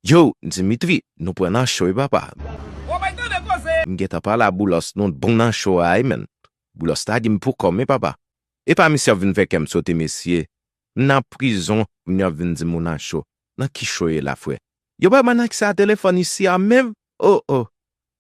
Yow Dimitri nou pran nan cho wi papa. Bon bagay tande koze. M gentan pale a boulos nou t bon nan cho a wi menn boulos lage m pou kòm wi papa epa misye ap vin fè kèm sote mesye m nan prizon moun yo ap vin dim ou nan cho nan ki cho ye la frè yo pa bann aksè a telefòn isi a menm oh oh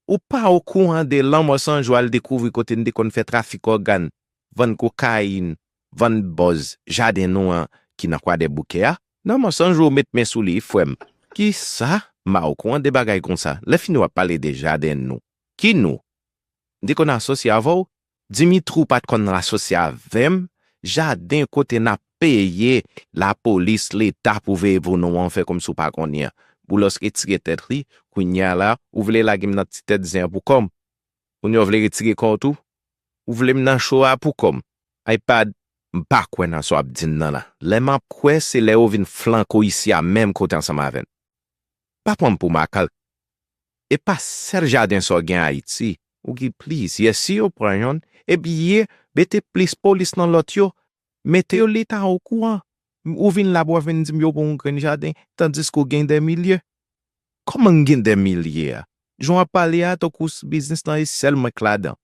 ou pa okouran de lanmò sanjou al dekouvri kote n te konn fè trafik ògàn vann kokayin vann bòz jaden nou an ki nan kwadèboukè a nan mansanj ou met men sou li frèm kisa ma ou kwan de bagay konsa lè fini wap pale de jaden nou ki nou m te konn asosye avèw dimitrou pat konn asosye avèm jaden kote nap peye lapolis leta pou veye pou nou an fè kòmsi ou pa konnen boulos retire tèt li kounya la ou vle lagem nan ti tèt zen an pou kòm. Moun yo vle retire kòw tou? Ou vlem nan show a pou kòm? Ay pad. M pa kwè nan sa w ap di m nan la. Lè m ap kwè se lè ou vin flanke w isi a menm kote ansanm avè n. Pa pran m pou makalk. E pa sèl jaden sa w gen Ayiti. Ou gen plizyè. Si yo pran yonn, ebyen mete plis polis nan lòt yo. Mete yo leta o kouran. Ou vin la pou wap vin dim yo gon yon grenn jaden tandiske ou gen dè milye. Kòman m gen dè milye a? Jan wap pale a tankou s biznis lan e sèl mwen k ladan.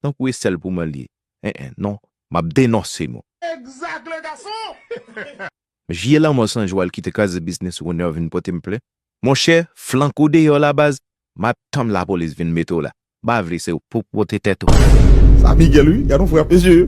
Tankou e sèl pou mwen l ye. En en non, map denonse nou. Exact le garçon! Vye lanmò san jwèl ki te kraze biznis Runner vin pote m plen. Monchè, flank ou deyò la baz, map tann lapolis vin mete w la. M pa vle se ou pou pote tèt ou. Sa Miguel wi, gad yon frè mesye.